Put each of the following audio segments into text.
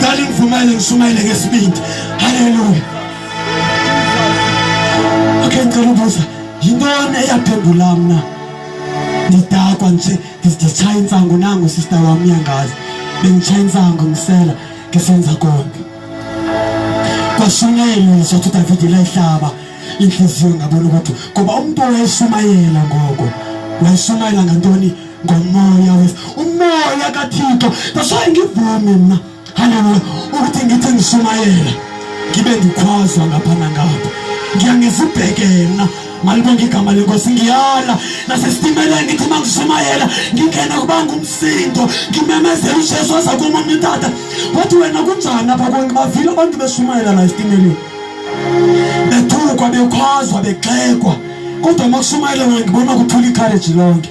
Cela ngivumele ngishumayele ngesibindi. Haleluya. Okay, ngicela ubuza. Yintoni eyaphendula mina? Ngidakwa nje, ngizishaya insangu nangu sister wami yangazi. Bengichaya insangu ngisela, ngisenza konke. Kwashunyayelwa sothi David layihlaba inhliziyo ngabona ukuthi ngoba umuntu owayeshumayela ngoko wayeshumayela ngantoni ngomoya wethu umoya kathixo nasoye ngivumi mna haleluya ukuthi ngithi ngishumayela ngibe ngikhwazwa ngapha nangapha ngiya ngizibhekela malibonga igama lenkosi ngiyala nasesitimela ngithi uma ngishumayela ngingena kuba ngumsindo ngimemezela ujesu waza kuma umntata wathi wena kunjani apha konke bavile abantu beshumayela la esitimeleni bethukwa bekhwazwa begxekwa kodwa uma kushumayela wena ngibona kuthula ikhareji lonke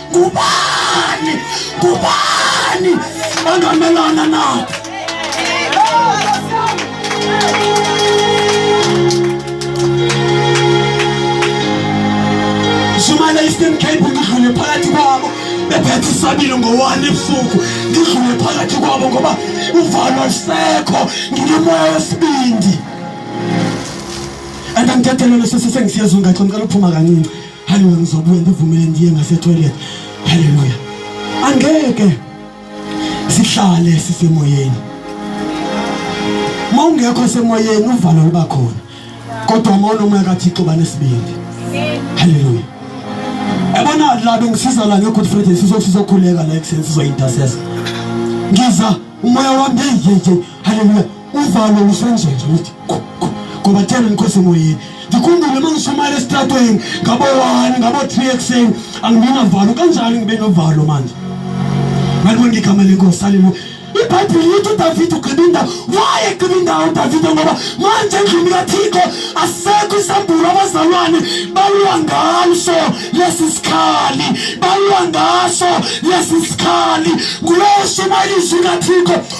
Kubani? Kubani? Angamelana nathi. shumayela eastern cape ngidlule phakathi kwabo bephethe isabilo ngowani ebusuku ngidlule phakathi kwabo ngoba uvalo lisekho nginomoya wesibindi and angidedelelo sesesengisiyazi ungaxi ngicela uphuma kancinci haleluya ngizobuya ngivumele ndiye ngasetoilet haleluya angeke sihlale sisemoyeni mawungekho semoyeni uvalo luba khona kodwa uma unomoya kathixo banesibindi haleluya ebona la bengisiza la nge-good friday sizokhuleka la ekuseni sizoyintasesa ngiza umoya wami yeyeyeyi haleluya uvalo lusenjenje lithi ngoba thena ngikhosi emoyeni ndikhumbule uma ngishumayela esitratweni ngabo-one ngabo-three ekuseni angingenavalo kanjani ngibe novalo manje ngalibona ngigama lenkosi haleluya ibhayibhile lithi udavide ugqiba indawo waye gqiba indawo udavide ngoba manje endlini kathixo asekho isambulo abazalwane balwa ngaso lesi sikhali balwa ngaso lesi sikhali ngulowo shumayela izwi kathixo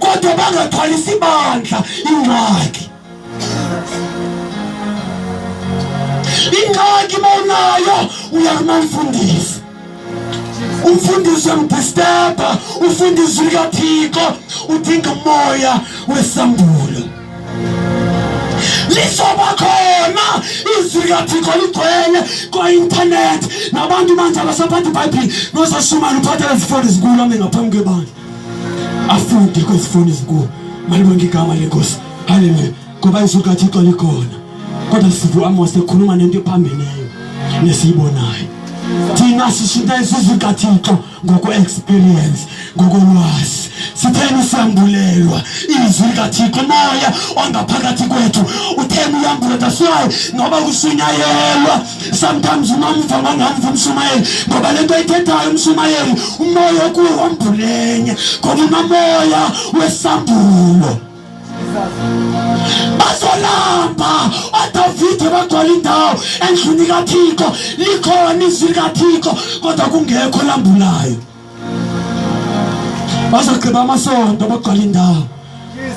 kodwa bangathwalisi bandla ingxaki ingxaki mawunayo uya kumamfundisi umfundisi uyamdisturba ufundisi likathixo udinga umoya wesambulo lizoba khona izwi likathixo ligcwele kwa-intanethi nabantu manje abasaphatha ibhayibhile nosashumane uphatha lezifoni zikulo ame ngaphambi kwebandla afunde kwezifundo ezinkulu malibonke igama lenkosi haleluya ngoba izwi likathixo likhona kodwa sivu amos ekhuluma nento ephambeneyo nesiyibonayo thina sishintsha izizwe likathixo ngokwe-experience ngokolwazi sitheni siyambulelwa izwi likathixo moya ongaphakathi kwethu utheni uyambuleta swayi ngoba kushunyayelwa sometimes umamva mangamva umshumayeli ngoba lento ayithethayo umshumayeli umoya okuwo ombulenye ngoba unamoya wesambulo bazolamba odavide bagcwala indawo endlini kathixo likhona izwi likathixo kodwa kungekho lambulayo bazogqiba amasonto bagcwala indawo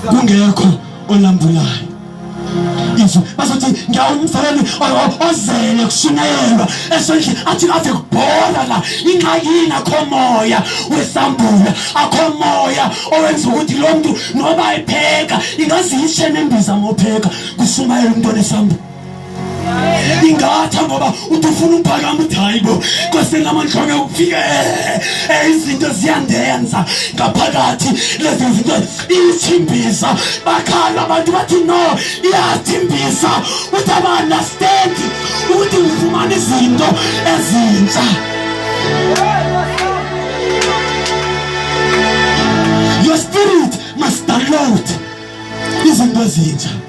kungekho olambulayo izwi bazothi ngiyawumfana ozele kushunyayelwa esondle athi ave kubhola la ingxakini akho moya wesambula akho moya owenza ukuthi lo mntu noba epheka ingaziyishe nembiza ngopheka kushumayela umntu onesambula ingatha ngoba uthi ufuna uphakama uthi hayi bo kweseni lamanhlonge ukufika eh, izinto ziyandenza ngaphakathi lezi zinto ithimbisa bakhala abantu bathi no iyathimbisa uthi aba-understand ukuthi ufumana izinto ezintsha your spirit must download izinto ezintsha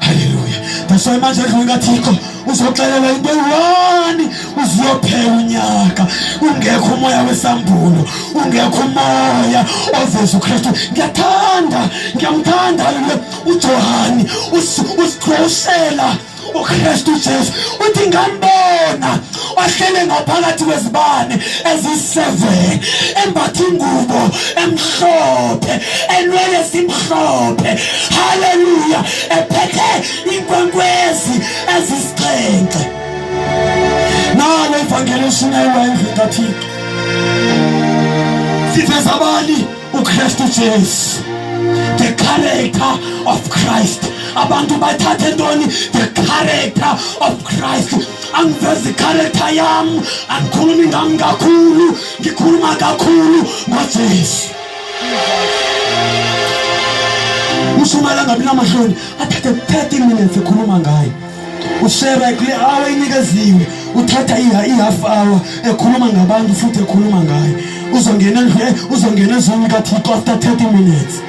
haleluya ngisho manje edlula ingathikho uzoxelela into eyi-one uziyophela unyaka ungekho umoya wesambulo ungekho umoya oveza ukristu ngiyathanda ngiyamthanda haleluya ujohani usiqhoshela ukristu jesu uthi ngambona wahlele ngaphakathi kwezibane eziseven embathe ingubo emhlophe enwele simhlophe haleluya ephethe inkwenkwezi ezisixhenxe nalo ivangeli eshunyayelwa endlini kathixo siveza bani ukristu jesu the character of christ abantu bathathe ntoni the character of christ angivezi ikharetha yami angikhulumi ngami kakhulu ngikhuluma kakhulu ngojesu ushumayela ngabi namahloni athathe 30 minutes ekhuluma ngayo ushera kule hour inikeziwe uthatha i-half hour ekhuluma ngabantu futhi ekhuluma ngayo uzongena uzongena ezweni kathixo after 30 minutes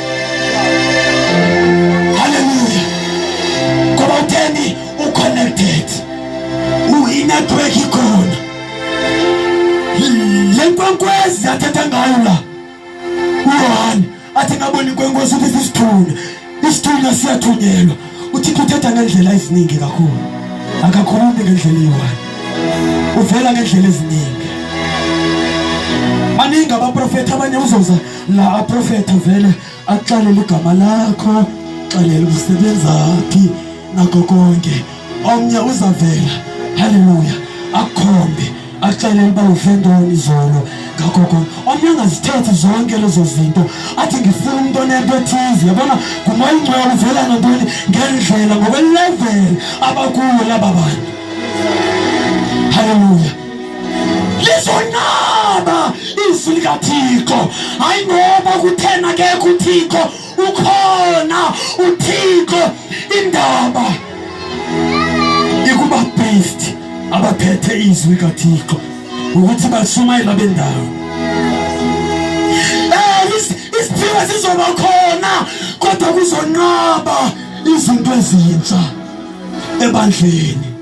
Haleluya. Ngoba utheni u connected. U i network ikhona. Lenkwenkwezi athatha ngayo la. Uyohani athi ngabona inkwenkwezi ukuthi isithuna. Isithuna siyathunyelwa. UThixo uthetha ngendlela eziningi kakhulu. Akakhulumi ngendlela eyiwani. Uvela ngendlela eziningi. Maningi abaprofethi abanye uzoza la aprofetha vele akuxalele igama lakho xalela umsebenzaphi nakho konke omnye uzavela haleluya akhombe akuxalele uba uvendoni izolo ngakho konke omnye angazithethi zonke lezo zinto athi ngifuna umuntu onento ethize yabona ngumoya ingcwele uvela ngantoni ngendlela ngokweleveli abakuyo laba bantu haleluya lizonqaba izwi likathixo hayi ngoba kuthena kekho uthixo ukhona uthixo indaba ikuba-based abaphethe izwi kathixo ukuthi bashumayela bendawo isiphiwo sizoba khona kodwa kuzonqaba izinto ezintsha ebandleni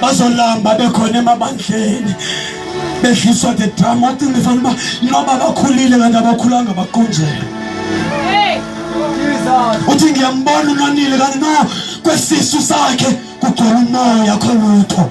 bazolamba bekhona emabandleni bedliswa the drama wathi ngifanele uba noba bakhulile kanti abakhulanga baqunjelwe uthi ngiyambona unonile kanti no kwesisu sakhe kugcwala umoya kholutho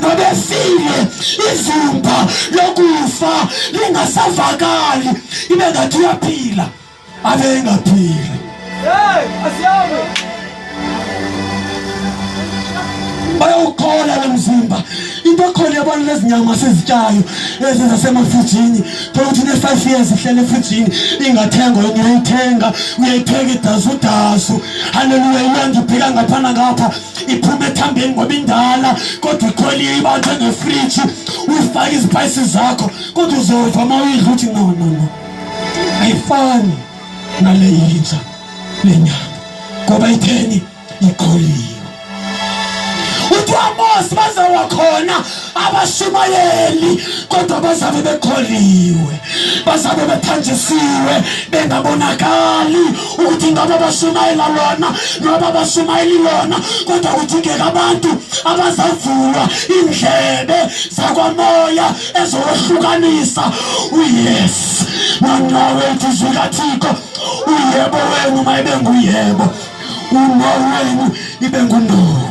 nobefile ivumba lokufa lingasavakali ibe ngathi uyaphila abengaphili bayawukhola lo mzimba into ekhona yabona lezi nyama sizityayo ezi zasemafrijini thola ukuthi ne-five years ihlele efrijini ingathengwa yona uyayithenga uyayithenga idazudazu haleluya imandibheka ngaphana ngapha iphuma ethambeni ngoba indala kodwa ikholiye ibanjwe ngefriji uyifake izipayisi zakho kodwa uzova uma uyidla ukuthi no no no ayifani nale yinja le nyanga ngoba itheni ikholiye uthi wamosi baze wakhona abashumayeli kodwa bazabe bekholiwe bazabe bethanjisiwe bengabonakali ukuthi ngabe abashumayela lona noma abashumayeli lona kodwa kudingeka abantu abazavulwa indlebe zakwamoya ezohlukanisa uyes nona wethu izwi kathixo uyebo wenu mayebe nguyebo uno wenu ibe nguno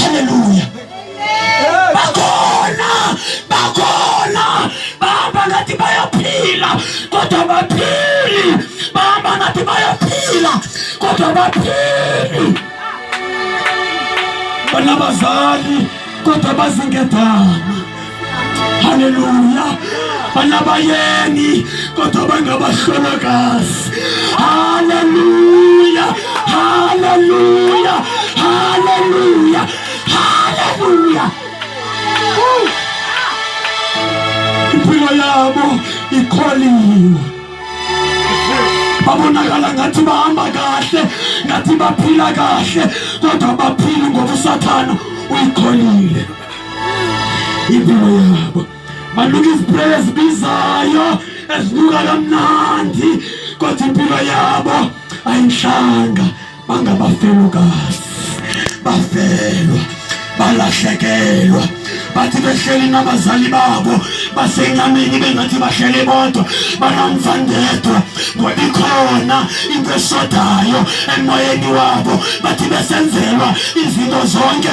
haleluya bakhona bakhona bahamba ngathi bayaphila kodwa baphili bahamba ngathi bayaphila kodwa baphili banabazali kodwa bazinkedama haleluya banabayeni kodwa bangabahlolokazi haleluya haleluya haleluya haleluya impilo yabo ikholiwe babonakala ngathi bahamba kahle ngathi baphila kahle kodwa baphile ngoba usathana uyikholile indawo yabo banuka izipreyi ezibizayo ezinuka kamnandi kodwa impilo yabo ayinhlanga bangabafelokazi bafelwa balahlekelwa bathi behleli nabazali babo basenyameni bengathi bahlele bodwa banamfandedwa ngoba ikhona into esodayo emoyeni wabo bathi besenzelwa izinto zonke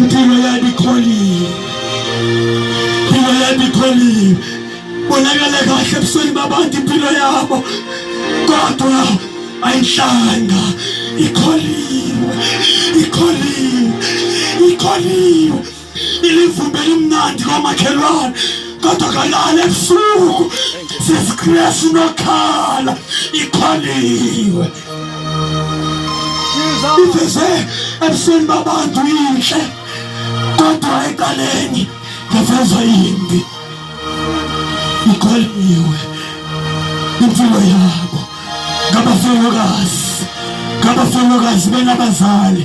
Mpilo yami ikholile. Mpilo yami ikholile. Bonakala kahle ebusweni babantu impilo yabo. Kodwa ayinhlanga ikholiwe. Ikholiwe. Ikholiwe. ilivumbe limnandi lomakhelwane kodwa kalala ebusuku sesikresi nokhala ikholiwe iveze ebusweni babantu inhle kodwa eqaleni ngaveza imbi ikholiwe impilo yabo ngabafelokazi ngabafelokazi benabazali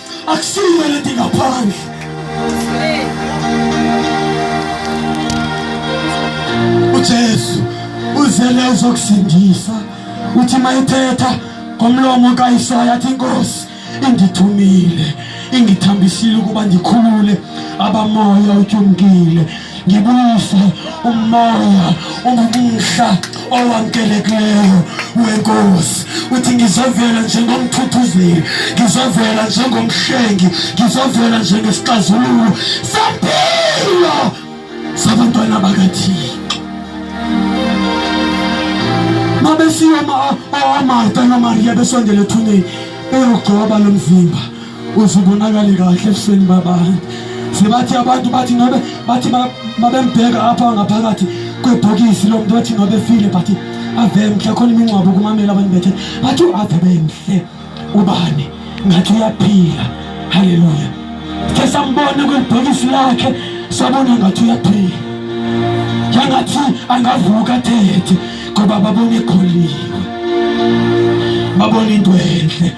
akusiyo lento ngaphandle uJesu uzele uzokusindisa uthi mayithetha ngomlomo kaIsaya athi inkosi ingithumile ingithambisile ukuba ndikhulule abamoya utyumkile ngibuyise umoya ongumhla owamkelekileyo wenkosi uthi ngizovela njengomthuthuzeli ngizovela njengomhlengi ngizovela njengesixazululo sempilo sabantwana bakathixo mabesiya omarta nomariya besondela ethuneni eyogcoba lo mzimba uze ubonakale kahle ebusweni baba sebathi abantu bathi nobe bathi babembheka apha ngaphakathi kwebhokisi lo muntu bathi nobe file but ave mhle khona imingcwabo kumamela abantu bethe bathi u-ave bemhle ubani ngathi uyaphila haleluya sithe sambona kwelibhokisi lakhe sabona ngathi uyaphila yangathi angavuka athethe ngoba babone kholiwe babone into enhle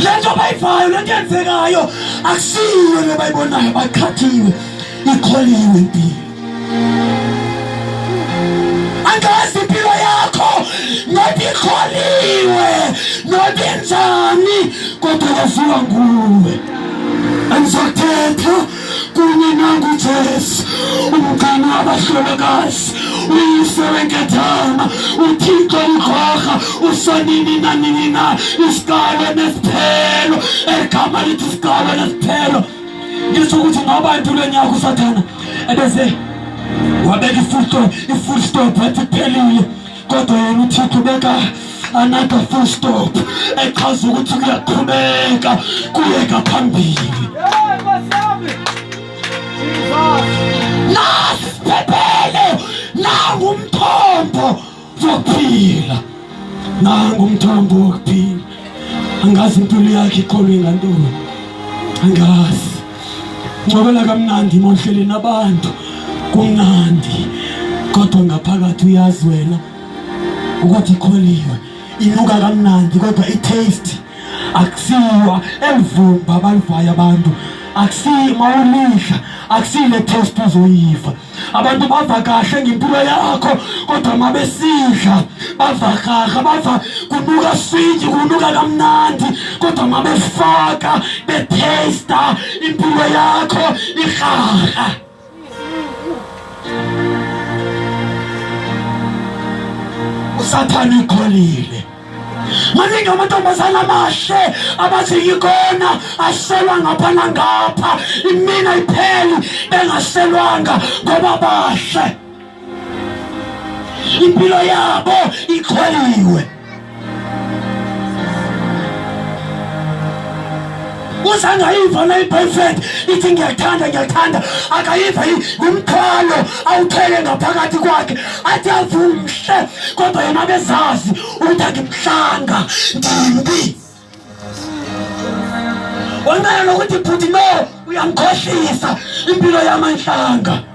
lento abayivayo lento yenzekayo akusiyo le bayibonayo baqhathiwe ikholiwe impilo angazi impilo yakho noba ikholiwe noba injani kodwa kaziwa nguwe anizothetha kunye nangu Jesu umgcini wabahlolokazi uyise wenkethama uthixo ukhokha usanini nanini na isikalo nesiphelo egama lithi isikalo nesiphelo ngisho ukuthi noba entulwe nyaka usathana ebese wabeka ifull stop ifull stop athi phelile kodwa yena uthixo beka another full stop echaza ukuthi kuyaqhubeka kuyeka phambili nasiphephele nangumthombo wokuphila nangumthombo wokuphila angazi intuli yakhe iqolo ingantoni angazi ngcobela kamnandi mohleleni abantu kumnandi kodwa ngaphakathi uyazi wena ukuthi ikholiwe inuka kamnandi kodwa i-taste akusiwa elivumba abalivayo abantu akusiyi mawulidla akusile-taste uzoyiva abantu bava kahle ngempilo yakho kodwa uma besidla bava kahle bava kunuka swiji kunuka kamnandi kodwa uma befaka bethesta impilo yakho ihaha usathane ikholile maningi amantombazane amahle abathi yikona aselwa ngapha nangapha imina ipheli bengaselwanga ngoba bahle impilo yabo ikhweliwe Kuze angayiva na i-boyfriend ithi ngiyathanda ngiyathanda akayiva ngumthwalo awuthwele ngaphakathi kwakhe athi avumhle kodwa yena bezazi ukuthi angimhlanga ndimbi wanqala nokuthi bhuti no uyangikhohlisa impilo yamanhlanga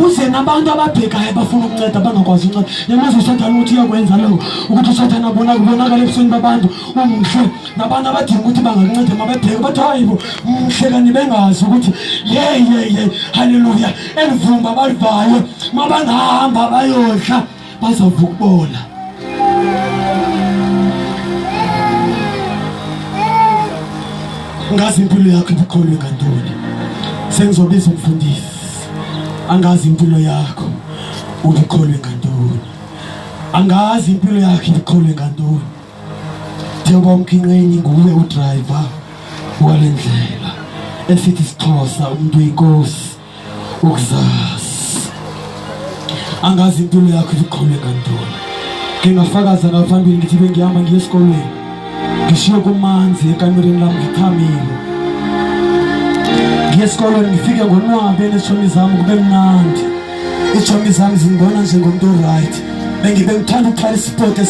uze nabantu ababhekayo abafuna ukunceda bangakwazi unceda yamazi usathane ukuthi uyakwenza lokho ukuthi usathane abona kubonakala ebusweni babantu umhle nabantu abadinga ukuthi bangakuncede mabebheke bathi hayibo mhle kanti bengazi ukuthi yeyeye haleluya elivumba balivayo mabangahamba bayodla bazovuka ukubola ngazi impilo yakho ibuqholwe ngantoni sengizobiza umfundisi angazi impilo yakho ubuqholwe ngantoni angazi impilo yakho ibuqholwe ngantoni njengoba umkhinqeni nguwe udriver wale ndlela esithi sixhosa umuntu oyinkosi ukuzazi angazi impilo yakho iziqhule kantoni ngingafakaza ngaphambili ngithi bengihamba ngiye esikolweni ngishiye kumanzi ekamereni lami ngithamile ngiye esikolweni ngifike ngonwabe nezitshomi zami kube mnandi izitshomi zami zingibona njengomntu oright bengithanda ukuqala isipoti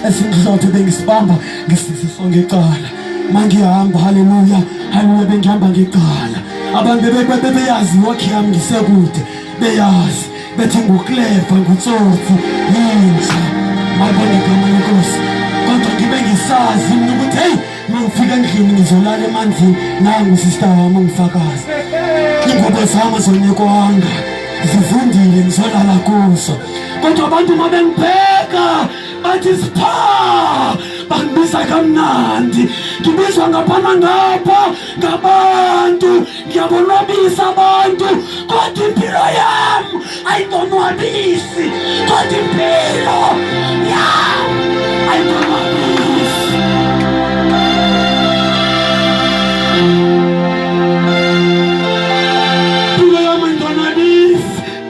esingihlothe bengisibamba ngisisisongecala mangihamba haleluya haleluya bengihamba ngiqala abantu bebeyazi wakhe yami ngisekude beyazi bethi ngukleva ngutsotsi yinja malibona igama lenkosi kodwa ngibe ngisazi mina ukuthi heyi mangifika endlini ngizolala emanzini nangu sista wami ongifakazi ingubo zami azonikwanga zivundile ngizolala kuzo kodwa abantu uma bengibheka bathi sipha bangibiza kamnandi ngibizwa ngapha nangapha ngabantu ngiyabonwabisa abantu kodwa impilo yam ayibonwabisi kodwa impilo yam ayibonwabisi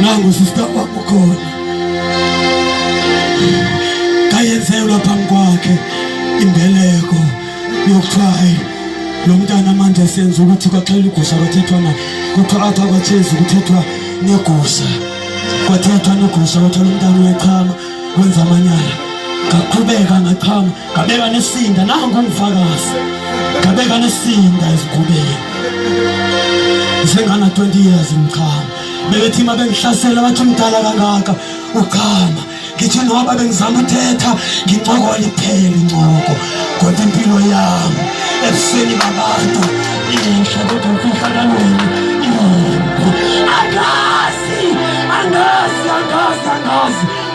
nangu sista kwakho khona kayenzelwa phambi kwakhe imbeleko yokuthiwa ayi lo mntana manje senza ukuthi kwaxela igusha kwathethwa na kuthiwa apha kwatshezi kuthethwa negusha kwathethwa negusha kwathiwa lo mntana uyachama wenza amanyala ngaqhubeka ngachama Gabeka nesinda nangu umfakazi. Gabeka nesinda ezigubeni. Sengana 20 years ngichama. Bebethi uma bengihlasela bathi umdala kangaka uchama. Ngithi noba bengizama uthetha ngincokola iphele incoko. Kodwa impilo yami ebusweni babantu inhle kodwa mfihla kanini. Angazi, angazi, angazi, angazi.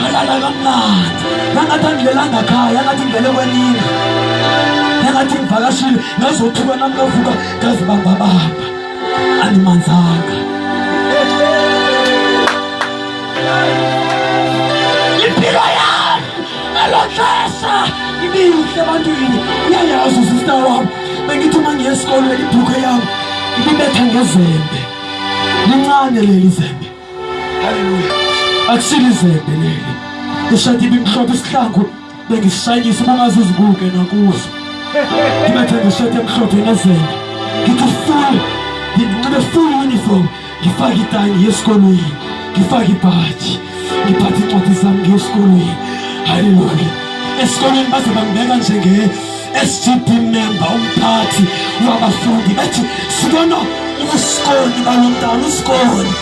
ngalala kamnandi nangathi angilelanga khaya ngathi ngilele kwenini nangathi ngivakashile ngazothuka nami kavuka ngazibambabamba andimanzanga impilo yami ngelo xesha ibinhle ebantwini uyayazi usista wam bengithi uma ngiye esikolweni ibhukhe yam ibibetha ngezembe lincane leli zembe haleluya akusile izembe leli ushade ibimhlophe isihlangu bengishayisa ubangaze uzibuke nakuso ngibethe ngishade emhlophe nezembe ngithi full nginxibe full uniform ngifake itayi ngiye esikolweni ngifake ibhaji ngiphathe incwadi zami ngiye esikolweni haleluya esikolweni baze bangibeka njenge SGB member umphathi wabafundi bethi sibona ubusikoni balo mntana usikoni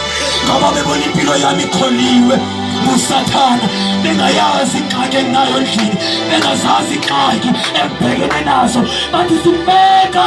ngoba bebona impilo yami ikholiwe ngusathana bengayazi ingxaki enginayo endlini bengazazi ingxaki engibhekene nazo bathi sibeka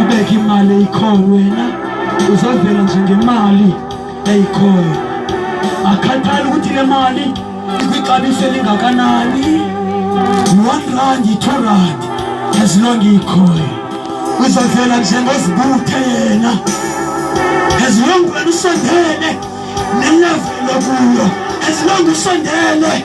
ubeke imali eyikhoyo wena uzovela nje ngemali eyikhoyo akhathali ukuthi le mali ikwixabiso elingakanani one rand yi-two rand as long ikhoyo uzovela njengozibuthe yena as long wena usondele nelevelo kuyo as long usondele